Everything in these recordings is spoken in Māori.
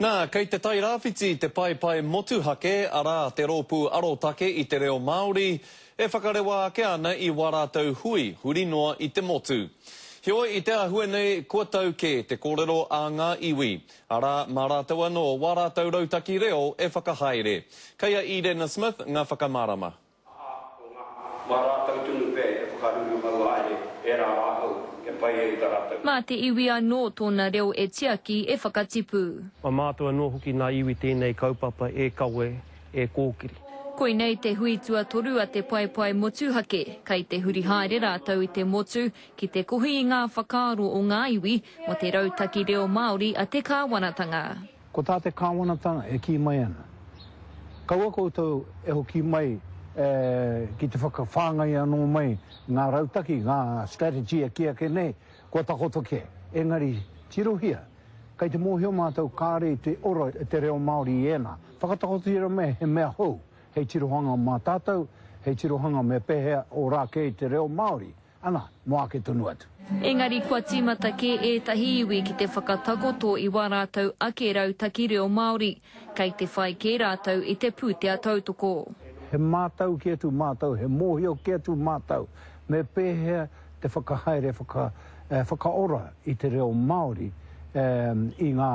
Nā, kei te Tairāwhiti te paepae motuhake, arā, te rōpū arotake i te reo Māori, e whakarewa ake ana i wā rātou hui huri noa i te motu. Heoi, i te āhua nei, kua tau kē te kōrero a ngā iwi, arā, mā rātou anō wā rātou rautaki reo e whakahaere. Kei a Irena Smith ngā whakamārama. aha ko ngā mā rātou tonu pea i te whakaruru hauāe e rā ahau e pai ai ta rātou. Mā te iwi anō tōna reo e tiaki, e whakatipu. Mā mātou anō hoki nā iwi tēnei kaupapa e kawe, e kōkiri. Koinei te hui tuatoru a te paepae motuhake, kei te huri haere rātou i te motu ki te kohi i ngā whakaaro o ngā iwi mō te rautaki reo Māori a te kāwanatanga. Ko tā te Kāwanatanga e kī mai ana, kaua koutou e hoki mai ki te whakawhāngai anō mai ngā rautaki, ngā strategy e kī ake nei, kua takoto kē. Engari, tirohia, kei te mōhio mātou kāore i te ora e te reo Māori i ēnā. Whakatakotohia mai he mea hou hei tirohanga mā tātou, hei tirohanga me pēhea ora kē i te reo Māori. Ana, mo ake tonu atu. Engari kua tīmata kē ētahi iwi ki te whakatakoto i wā rātou ake rautaki reo Māori, kei te whai kē rātou i te pūtea tautoko. He mātauki atu mātou, he mōhio kē atu mātou me pēhea te whakahaere whakaora i te reo Māori i ngā,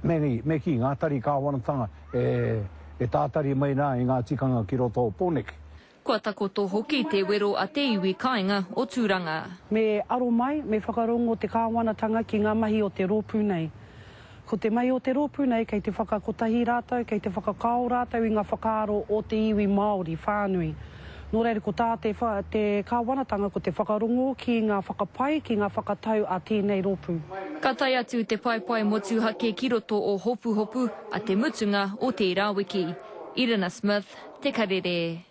me kī, ngā tari kāwanatanga e tātari mai rā i ngā tikanga ki roto o Pōneke. Kua takoto hoki te wero a te iwi kāinga o Tūranga. Me aro mai, me whakarongo te Kāwanatanga ki ngā mahi o te rōpū nei. Ko te mahi o te rōpū nei kei te whakakotahi rātou, kei te whakakao rātou i ngā whakaaro o te iwi Māori whānui. Nō reira ko tā te Kāwanatanga ko te whakarongo ki ngā whakapae, ki ngā whakatau a tēnei rōpū. Ka tae atu te paepae motuhake ki roto o Hopuhopu a te mutunga o tērā wiki. Irina Smith, Te Karere.